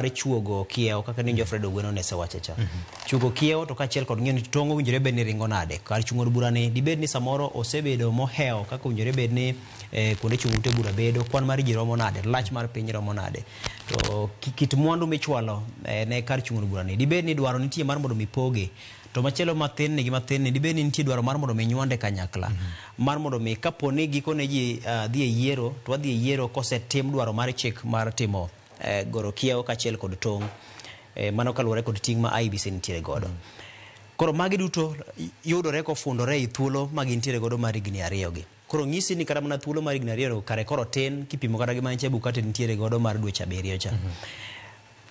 mar chuogo kiewo kaka ninjo Fred Ogweno ne sewacho cha. Chuogo kiewo to kaachiel kod ng'eyo ni tong' owinjore bed ni ringo nade. Kar chung' od bura ni dibed ni samoro osebedo mohewo kaka owinjore bed ni eh, kuonde chung' ute bura bedo, kwan mar ji romo nade, lach mar piny romo nade. To ki- kit mwandu michwalo eh, ne kar chung' od bura ni dibed ni dwaro nitie mar mondo mipoge to machielo matin ni gi mathin ni dibed ni nitie dwaro mar mondo mi nywande kanyakla mar mondo mi kapo ni gikone ji ah, dhi e yiero to wadhi e yiero kosetim dwaro mar chik mar timo goro kiewo kaachiel kod tong'. Eh, mano kaluwore kod ting' ma IEBC nitiere godo. Koro magi duto y- yudore kofundore ei thuolo ma gintiere godo mar higni ariyogi. Koro nyisi ni kata mana thuolo mar higni ariyogo kare koro tin kipimo kata gi ma Chebukati nitiere godo mar dweche abiriyo cha.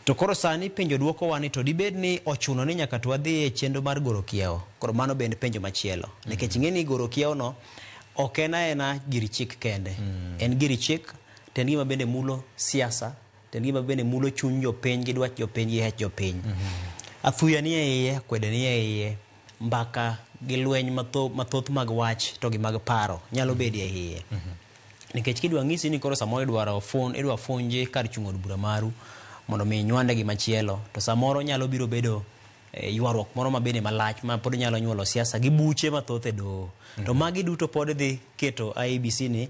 To koro sani penjo dwokowa ni to dibed ni ochuno ni nyaka to wadhi e chenro mar goro kiewo? Koro mano bende penjo machielo. Nikech ing'e ni goro kiewono ok en aena gir chik kende. En gir chik To en gima bende mulo siasa, to en gima bende mulo chuny jopiny gi dwach jopiny gi hech jopiny. Athuya ni e iye, akwede ni e iye, mbaka gi lweny matho- mathoth mag wach to gi mag paro nyalo bedo e iye. Nikech kidwa ng'isi ni koro samoro idwaro fun, idwa funji kar chung' od bura maru mondo mi inywande gi machielo to samoro nyalo biro bedo eh, ywaruok moro ma bende malach ma pod nyalo nyuolo siasa gi buche mathoth e doho. To magi duto pod idhi keto IEBC ni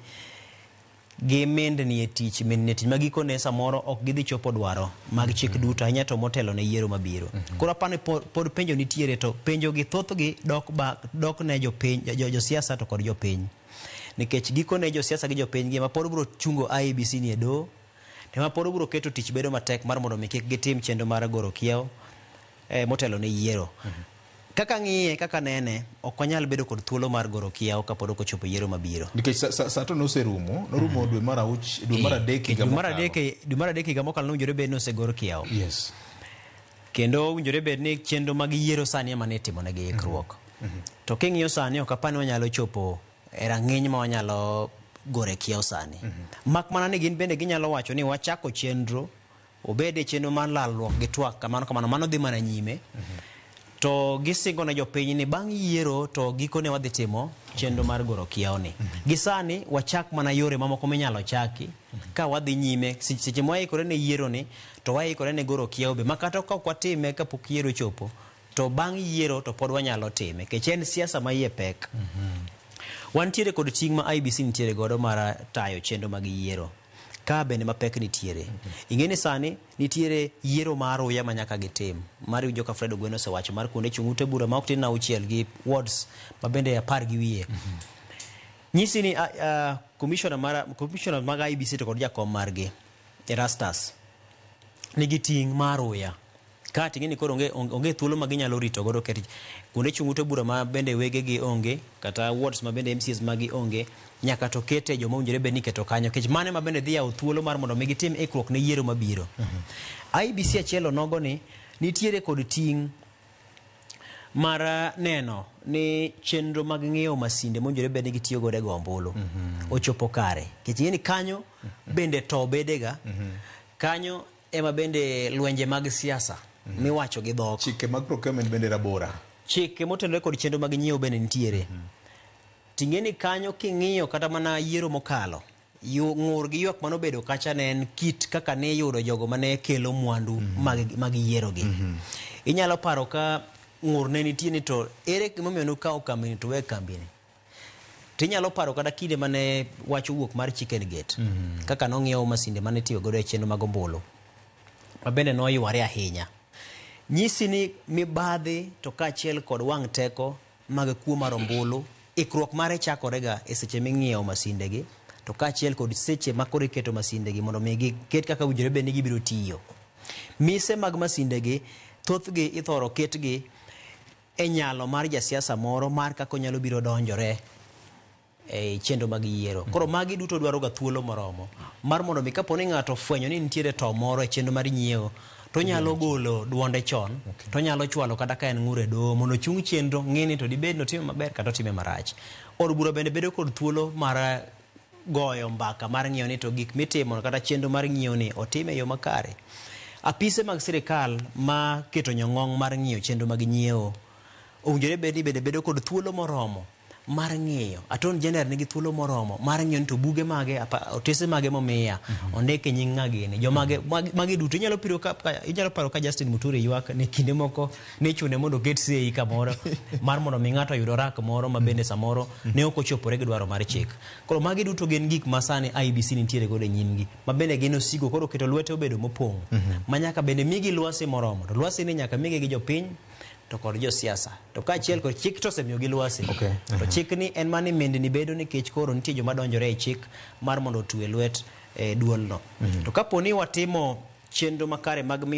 gi mindni e tich mindni e tich ma gikone samoro ok gidhi chopo dwaro mag chik duto ahinya to motelo ne yiero mabiro. Koro aparo ni po- pod penjo nitiere to penjogi thothgi dok ba dok ne jopiny jo- jo- josiasa to kod jopiny. Nikech gikone josiasa gi jopiny gi ema pod biro chungo IEBC ni e doho to ema pod biro keto tich bedo matek mar mondo mi kik gitim chenro mar goro kiewo. eh, motelo ne yiero. Kaka ng'iye, kaka nene, ok wanyal bedo kod thuolo mar goro kiawo kapod ok ochopo yiero mabiro. Nikech sa- sa- sa to noserumo, norumo dwe mar auch, dwe mar adek higa Dwe mar mokalo. adek e- dwe mar adek higa mokalo nowinjore bed ni osegor kiawo. Yes. Kendo owinjore bed ni chenro mag yiero sani ema ne itimonegi ikruok. To king'iyo sani ok apani wanyalo chopo e rang'iny ma wanyalo gore kiawo sani. Mak mana ni gin bende ginyalo wacho ni wachako chenro obed e chenro mar lalruok gi twak kamano kamano mano dhi mana nyime to gisingo ne jopiny ni bang' yiero to gikone wadhi timo chenro mar goro kiyawoni gi sani wachak mana yore mamoko minyalo chaki ka wadhi nyime Se- seche ma waikore ne yieroni to waikore ne goro kiyawo be ma kata ka ok watime kapok yiero chopo to bang' yiero to pod wanyalo time nikech en siasa ma iye pek wantiere kod ting' ma IBC nitiere godo mar tayo chenro mag yiero Ka bende mapek nitiere. Ing'e ni sani nitiere yiero ma aruya ma nyaka gitim. Mar iwinjo ka Fred Ogweno osewacho mar kuonde chung' ute bura ma ok tin auchiel gi wards ma bende apar gi wiye. Nyisi ni a- a- commissioner mara- commissioner mag IEBC to kod jakom margi, Erastus, nigi ting' ma aruya. Ka to ing'e ni koro onge, onge thuolo ma ginyalo rito godo ket kuonde chung ute bura ma bende wegegi onge, kata wards ma bende MCAs magi onge, nyaka to kete joma owinjore bed ni iketo kanyo nikech mano ema bende dhi yawo thuolo mar mondo mi gitim ikruok ne yiero mabiro. IEBC achiel onogo ni nitiere kod ting' mar neno ni chenro mag ng'iewo masinde mowinjore bed ni gitiyo godo e go ombulu ochopo kare. Nikech ing'e ni kanyo bende too bedega, kanyo Ema bende lwenje mag siasa miwacho gi dhok. Chike mag procurement bende rabora. Chike motenore kod chenro mag nyiewo bende nitiere. Ting'eni kanyo king'iyo kata mana yiero mokalo, yu- ng'ur gi ywak mane obedo kacha ne en kit kaka ne iyudo jogo mane kelo mwandu mag, mag yierogi. Inyalo paro ka ng'ur ne nitie ni to ere gimomiyo nukawo kambini to uwe kambini. To inyalo paro kata kinde mane wach owuok mar chicken gate kaka nong'iew masinde mane itiyo godo e chenro mag ombulu ma bende noyware ahinya. Nyisi ni mibadhi to kaachiel kod wang' teko mag kuo mar ombulu ikruok mare chakorega e seche ming'iewo masindegi to kaachiel kod seche ma koro iketo masindegi mondo mi giket kaka owinjore bed ni gibiro tiyo. Mise mag masindegi thothgi ithoro ketgi e nyalo mar jasiasa moro mar kaka onyalo biro donjore e chenro mag yiero. Koro magi duto dwaroga thuolo moromo mar mondo mi kapo ni ng'ato ofwenyo ni nitiere to moro e chenro mar nyiewo to onyalo golo duonde chon to onyalo chwalo kata ka en ng'ur e doho mondo ochung chenro ng'e ni to dibed ni otime maber kata otime marach. Od bura bende bedo kod thuolo mar goyo mbaka mar ng'iyo ni to gik mitimo kata chenro mar ng'iyo ni otim e yo makare. Apise mag sirkal ma keto nyong'ong mar ng'iyo chenro mag nyiewo owinjore bed ni bende bedo kod thuolo moromo mar ng'iyo. Attorney General nigi thuolo moromo mar ng'iyo ni to buge mage, apa- otese mage momiya, ondik e nying ng'a gini, jomage, magi magi duto. Inyalo piro ka, ka- inyalo paro ka Justin Muturi ywak ni kinde moko nichune mondo oket sei kamoro mar mondo mi ng'ato oyud orak moro ma bende samoro ne ok ochopore gi dwaro mar chik. Koro magi duto gin gik ma sani IBC nitiere godo e nyimgi ma bende gin osigo koro keto lwete obedo mopong' ma nyaka bende migi lwasi moromo to lwasi ni nyaka migi gi jopiny to kod josiasa to kaachiel kod chik to osemiyogi lwasi Okay. to chik ni en mani mendni bedo nikech koro nitie joma donjore e chik mar mondo otue lwet e duolno to kapo ni watimo chenro makare mag miyo